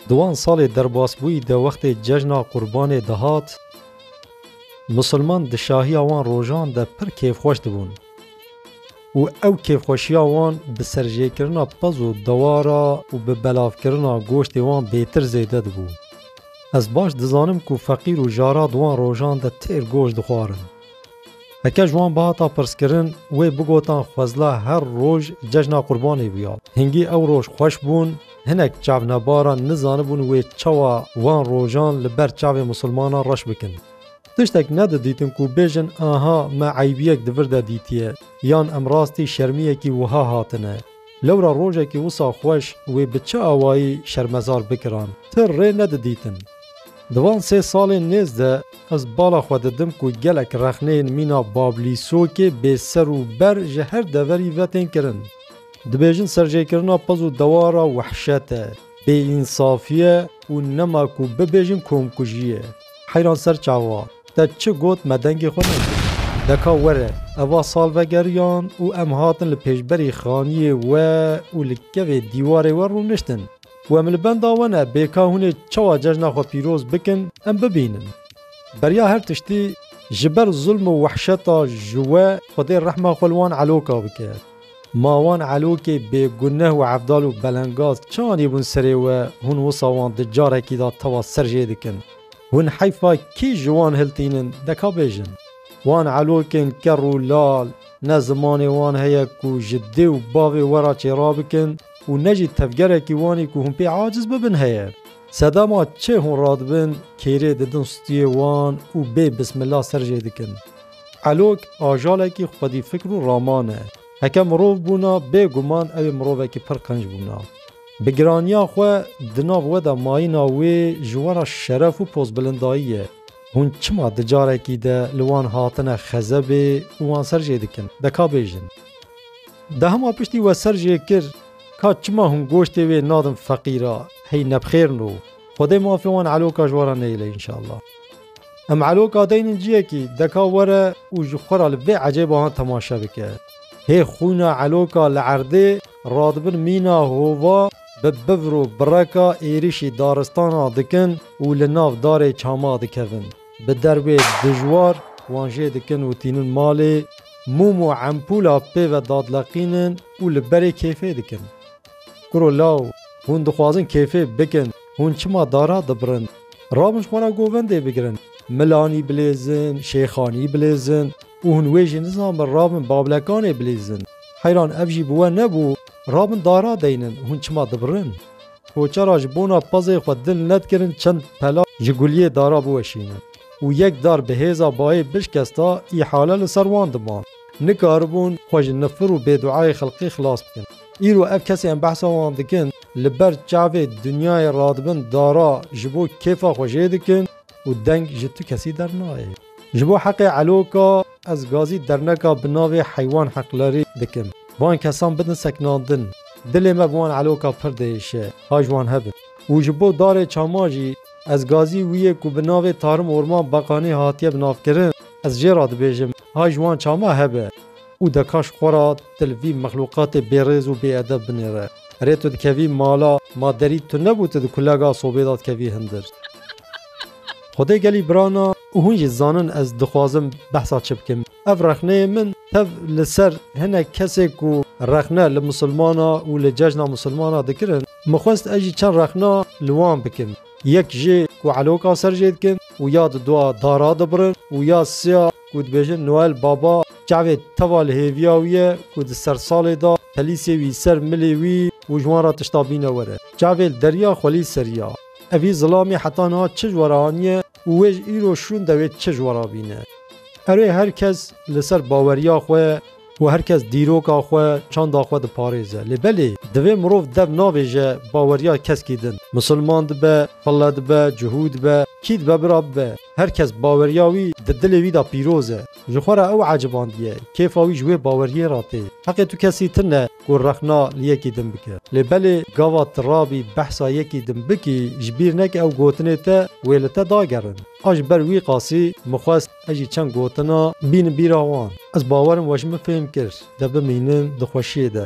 Di wan salê derbasbûyî de wextê cejna qurbanê dihat, misilman di şahiya wan rojan de pir kêfxweş dibûn û ew kêfxweşiya wan bi serjêkirina pez û dewara û bi belavkirina goştê wan bêtir zêde dibû. Ez baş dizanim ku feqîr û jara di wan rojan de têr goşt dixwarin. Heke ji wan bihata pirskirin wê bigotan xwezla her roj cejna qurbanê bûya. Hingî ew roj xweş bûn, hinek çavnebaran nizanibûn wê çawa wan rojan li ber çavê misilmanan reş bikin. Tiştek nedidîtin ku bêjin aha me eybiyek di vir de dîtiye yan em rastî şermiyekî wiha hatine. Lewra rojekî wisa xweş wê bi çi awayî şermezar bikiran, ti rê nedidîtin. Di van sê salên nêz de ez bala xwe didim ku gelek rexneyên mîna Bablîsokê bê ser û ber ji her deverî ve tên kirin. Dibêjin serjêkirina piz û dewara wehşet e, bêînsafî ye û nema ku bibêjin komkujî ye. Heyran ser çawa? Te çi got me dengê xwe nekir. Deka were eva sal vegeriyan û em hatin li pêşberî xaniyê we û li kevê dîwarê we rûniştin. Ku em li benda we ne bê ka hûn ê çawa cejna xwe pîroz bikin em bibînin. Beriya her tiştî ji ber zulm û wehşeta ji we Xwedê rehma xwe li wan eloka bike. Ma wan elokê bêguneh û evdal û belengaz çi anîbûn serê we hûn wisa wan di carekî de tewa ser jê dikin. Hûn heyfa kî ji wan hiltînin deka bêjin? Wan elokên kerr û lal ne zimanê wan heye ku ji dê û bavê we re çêra bikin û ne jî tevgerekî wanî ku hûn pê aciz bibin heye. Sedema çê hûn radibin kêrê didin stûyê wan û bê bismila ser jê dikin. Elok ajalekî xwedîfikr û raman e. Heke mirov bûna bê guman ew ê mirovekî pir qenc bûna. Bi giraniya xwe di nav we de mayîna wê ji wera şeref û pozbilindayî ye. Hûn çima di carekî de li wan hatine xezebê û wan ser jê dikin? De ka bêjin. De hema piştî we ser jê kir, ka çima hûn goştê wê nadin feqîra, hey nebxêrn û Xwedê mafê wan eloka ji we re neyêle înşallah. Em elo gadeynên ciyekî deka were û ji xwe re li vê ecêbahan temaşe bike. Hê xwîna eloka li erdê radibin mîna hova bi bivr û bireka êrişî daristana dikin û li nav darê çama dikevin. Bi derwê dijwar wan jê dikin û tînin malê, mûm û empûla pê ve dadileqînin û li berê kêfê dikin. Kuro law, hûn dixwazin kêfê bikin, hûn çima dara dibirin? Rabin ji xwe re govendê bigirin. Milanî bilêzin, şêxanî bilêzin û hûn wê jî nizanbin rabin bavlekanê bilêzin. Heyran ev jî bi we nebû, rabin dara deynin, hûn çima dibirin? Koçera ji bona pezê xwe dil nedikirin çend pela ji guliyê dara biweşînin û yek dar bi hêza bayê bişkesta îhale li ser wan diman. Nikaribûn xwe ji nifir û bêduayê xelkê xilas bikin. Îro ev kesê em behsa wan dikin li ber çavê dinyayê radibin dara ji bo kêfa xwe jê dikin û deng ji tu kesî dernayê. Ji bo heqê Eloka ez gazî derneka bi navê Heywan Heqlerî dikim. Van kesan bidin sekinandin. Dilê me bi wan Eloka pir diêşe, ha ji wan hebin. Û ji bo darê çama jî ez gazî wî yê ku bi navê Tarim Orman Bakanî hatiye binavkirin, ez jê re dibêjim, ha ji wan çama hebe. Û dekaş xwe ra tu li vî mexlûqatê bêrêz û bêedeb binêre. Rê tu dikevî mala, ma derî tu nebû tu di kulega sobê de dikevî hindir. Xwedê gelî birana û hûn jî zanin ez dixwazim behsa çi bikim. Ev rexneyê min tev li ser hinek kesê ku rexne li misilmana û li cejna misilmana dikirin, min xwest ez jî çend rexna li wan bikim. Yek jê ku eloka ser jê dikin û ya di dua dara dibirin û ya siya. ku dibêjin Noel Baba çavê teva li hêviya wî ye ku di sersalê de pelîsê wî ser milê wî û ji wan re tişta bîne were. Çavê li deriya xwelî serî ya. Evî zilamî heta niha çi ji we re aniye û wê ji îro şûn dewê çi ji we re bîne. Erê her kes li ser baweriya xwe Ku her kes dîroka xwe, çanda xwe diparêze. Lê belê, divê mirov dev navêje baweriya keskî din. Misilman dibe, pille dibe, cihû dibe, kî dibe bira bibe, her kes baweriya wî di dilê wî de pîroz e. Ji xwe re ew ecibandiye, kêfa wî ji wê baweriyê re tê. Heqê tu kesî ti ne ku rexna li yekî din bike. Lê belê, gava tu rabî behsa yekî din bikî, ji bîr neke ew gotinê te wê li te dagerin. A ji ber wî qasî, min xwest Ez jî çend gotina bînin bîra wan. Ez bawer im we ji min fêm kir. De bimînin di xweşiyê de.